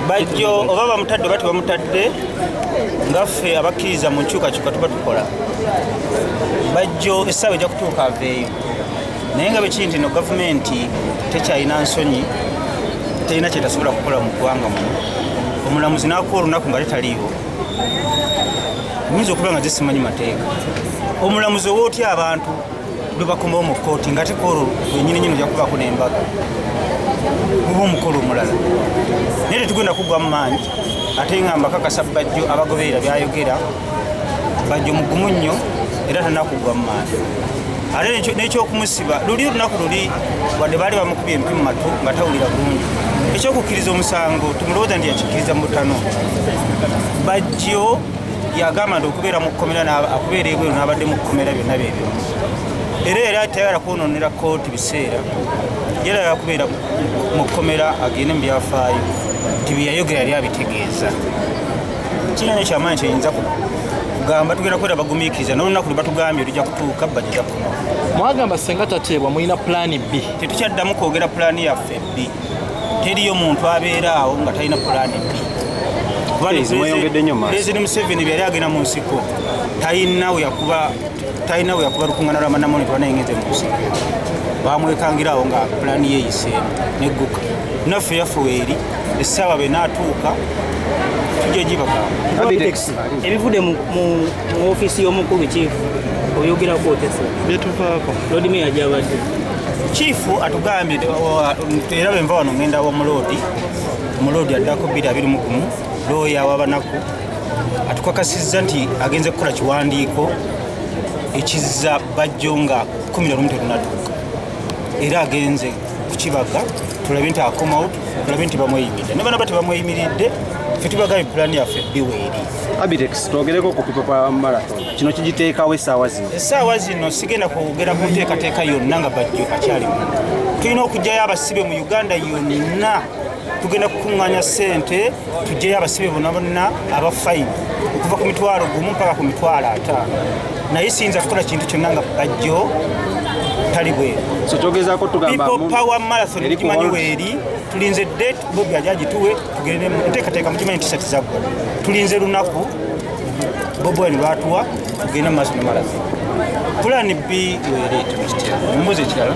bajjo oba bamutadde oba tebamutadde ngaffe abakkiriza mu nkyukakyuka tuba tukola bajjo essaawa ejja kutuuka aveeyo naye nga bwekiri nti no gavumenti tekyalina nsonyi terina kyetasobola kukola mu ggwanga muno omulamuzi nakuwa olunaku nga letaliiwo nyinza okuba nga zisimanyi mateeka omulamuzi oba otya abantu lwebakomawo mu kooti nga tekoolo wenyini nyini ojakubaako nembaga guba omukolo omulala naye tetugenda kugwa mu maanyi ate nga mbakakasa bajjo abagoberera byayogera bajjo mugumu nnyo era tanakugwa mu maanyi ate nekyokumusiba luli olunaku luli wadde baali bamukubye empi mu matu nga tawulira bulungi ekyokukkiriza omusango tumulowooza nti yakikkiriza mu butano bajjo yagamba nti okubeera mu kkomera okubeera ebweru n'abadde mu kkomera byonna byebyo era era tayagala kwonoonera kooti biseera yera yakubeera mu kkomera agende mu byafaayo nti byeyayogera yali abitegeeza kinanyo kyamaanyi kyenyinza kugamba tugenda kwera bagumiikiriza nolunaku lwebatugambye olija kutuuka bajja kuno mwagamba senga tateebwa mulina pulaani b tetukyaddamu kwogera pulaani yaffe b teriyo muntu abeera awo nga talina pulaani bipulezidenti museveni byali agenda mu nsiko talina weyakuba lukungana lwamanamoni twanayengenze mu nsiko bamwekangira awo nga pulaani yeyiseemu negguka naffe yaffe weeri essaawa benaatuuka tujja gibagamba ebivudde mu ofiisi y'omukulu kiifu oyogerako otesa byetuvaako lodmeya gyabadde kiifu atugambye era bwenva wano ngenda wamuloodi omuloodi addako bbiri abiri mugumu looya wabanaku atukakasizza nti agenze kukola kiwandiiko ekizza bajjo nga kumi nalumu terunatuuka era agenze kukibaga tulabe nti akomawo tulabe nti bamweyimiridde ne banaba tebamweyimiridde fe tubagayo pulaani yaffe biweeri abitex twogereko ku pipa kwa marathon kino kigiteekawo essaawa zino essaawa zino sigenda kwogera ku nteekateeka yonna nga bajjo akyalimu tulina okugyayo abasibe mu uganda yonna tugenda kukuŋŋanya ssente tugyeyo abasibe bona bonna aba fayini okuva ku mitwalo gumu mpaka ku mitwalo ataano naye siyinza kukola kintu kyonna nga bajjo tali bweru so kyogezaako tugamba power marathon gimanyi weeri tulinze date bobi aja agituwe tugende muteekateeka mukimanyi nti sati zaggwa tulinze lunaku bobi wine lwatuwa tugende mu maaso namalazi pulani b wereeta mukitya mumbuzi ekirala